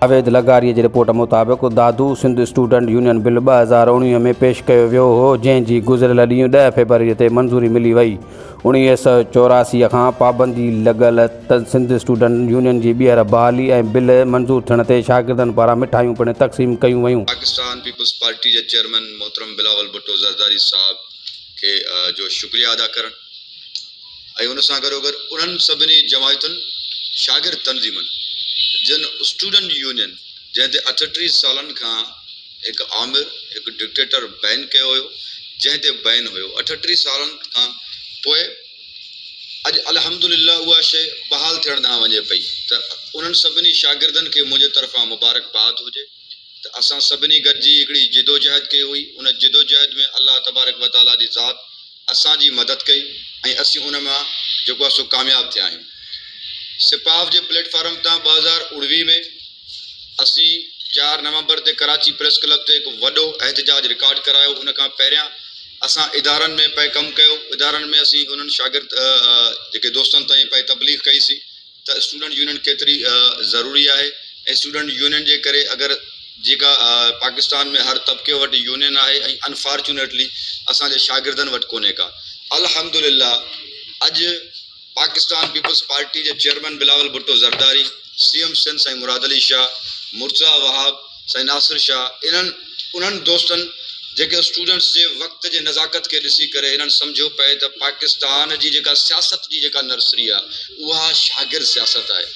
جاويد لغاري جي رپورٽ مطابق Dadu Sindh student union bill ٻه هزار اوڻيهه ۾ پيش ڪيو ويو هو جنهن جي گذريل ڏينهن ڏهه فيبروري تي منظوري ملي وئي اڻويهه سؤ چوراسي کان پابندي لڳل ته سنڌ اسٽوڊنٽ يونين جي ٻيهر بحالي ۽ بل منظور ٿيڻ تي شاگردن پاران مٺايون پڻ تقسيم ڪيون ويون. پاڪستان پيپلز پارٽي جي چيئرمين محترم بلاول ڀٽو زرداري صاحب کي جو شڪريه ادا ڪرڻ ۽ ان سان گڏوگڏ انهن سڀني جماعتن شاگرد تنظيمن جن اسٽوڊنٽ يونين جنهن تي اٺٽيهه سالن کان هڪ آمر، هڪ ڊڪٽيٽر بين ڪيو هيو، جنهن تي بين هيو اٺٽيهه سالن کان پوء اڄ الحمدلله اها شيء بحال ٿيڻ ڏانهن وڃي پئي ته انهن سڀني شاگردن کي منهنجي طرفان مبارڪباد هجي ته اسان سڀني گڏجي هڪڙي جدوجهد ڪئي هئي ان جدوجهد ۾ الله تبارڪ وتعاليٰ جي ذات اسان جي مدد ڪئي ۽ اسين ان مان جيڪو آهي سو ڪامياب ٿيا آهيون سپاف جي پليٽ فارم تان ٻه هزار اڻويهه ۾ اسين چار نومبر تي ڪراچي پريس ڪلب تي هڪ وڏو احتجاج رڪارڊ ڪرايو، ان کان پهريان اسان ادارن ۾ پئي ڪم ڪيو، ادارن ۾ اسين انهن شاگرد جيڪي دوستن تائين پئي تبليغ ڪئي سي ته اسٽوڊنٽ يونين ڪيتري ضروري آهي ۽ اسٽوڊنٽ يونين جي ڪري اگر جيڪا پاڪستان ۾ هر طبقي وٽ يونين آهي ۽ انفارچونيٽلي اسان جي شاگردن وٽ ڪونهي ڪا الحمدلله اڄ پاڪستان پيپلز پارٽي جي chairman Bilawal Bhutto Zardari, C M Sindh سائين مراد علي شاهه، مرتضيٰ وهاب، سائين ناصر شاهه انهن انهن دوستن جيڪي اسٽوڊنٽس جي وقت جي نزاڪت کي ڏسي ڪري هنن سمجهيو پئي ته پاڪستان جي جيڪا سياست جي جيڪا نرسري آهي اها شاگرد سياست آهي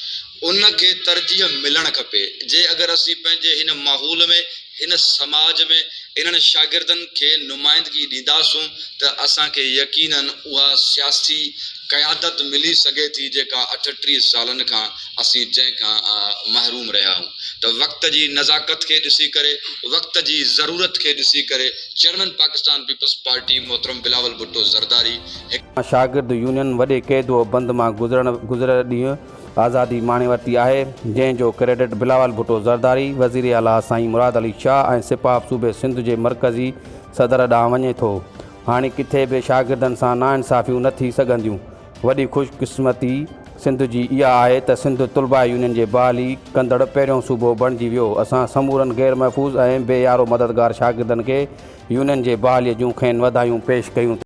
ان کي ترجيح ملڻ کپي جي اگر اسين پنهنجي هن ماحول ۾ هن سماج ۾ انهن شاگردن کي نمائندگي ڏينداسون ته اسان کي يقيناً اها سياسي قيادت ملي سگهي ٿي جيڪا اٺٽيهه سالن کان اسين جنهن کان محروم رهيا آهيون ته وقت جي نزاڪت کي ڏسي ڪري وقت جي ضرورت کي ڏسي ڪري چيئرمين پاڪستان پيپلز پارٽي محترم بلاول ڀٽو زرداري هڪ شاگرد يونين وڏي قيد و بند مان گذرڻ گذريل ڏينهن آزادي ماڻي ورتي آهي، جنهن جو ڪريڊٽ بلاول ڀٽو زرداري، وزير اعليٰ سائين مراد علي شاهه ۽ سپاهه صوبي سنڌ جي مرڪزي صدر ڏانهن وڃي ٿو. هاڻي ڪٿي به شاگردن سان ناانصافيون نه ٿي سگهنديون. وڏي خوش قسمتي سنڌ جي اها آهي ته سنڌ طلباء يونين جي بحالي ڪندڙ پهريون صوبو بڻجي ويو. اسان سمورن غير محفوظ ۽ بي يارو مددگار شاگردن کي يونين جي بحالي جون کين وڌايون پيش ڪيون ٿا.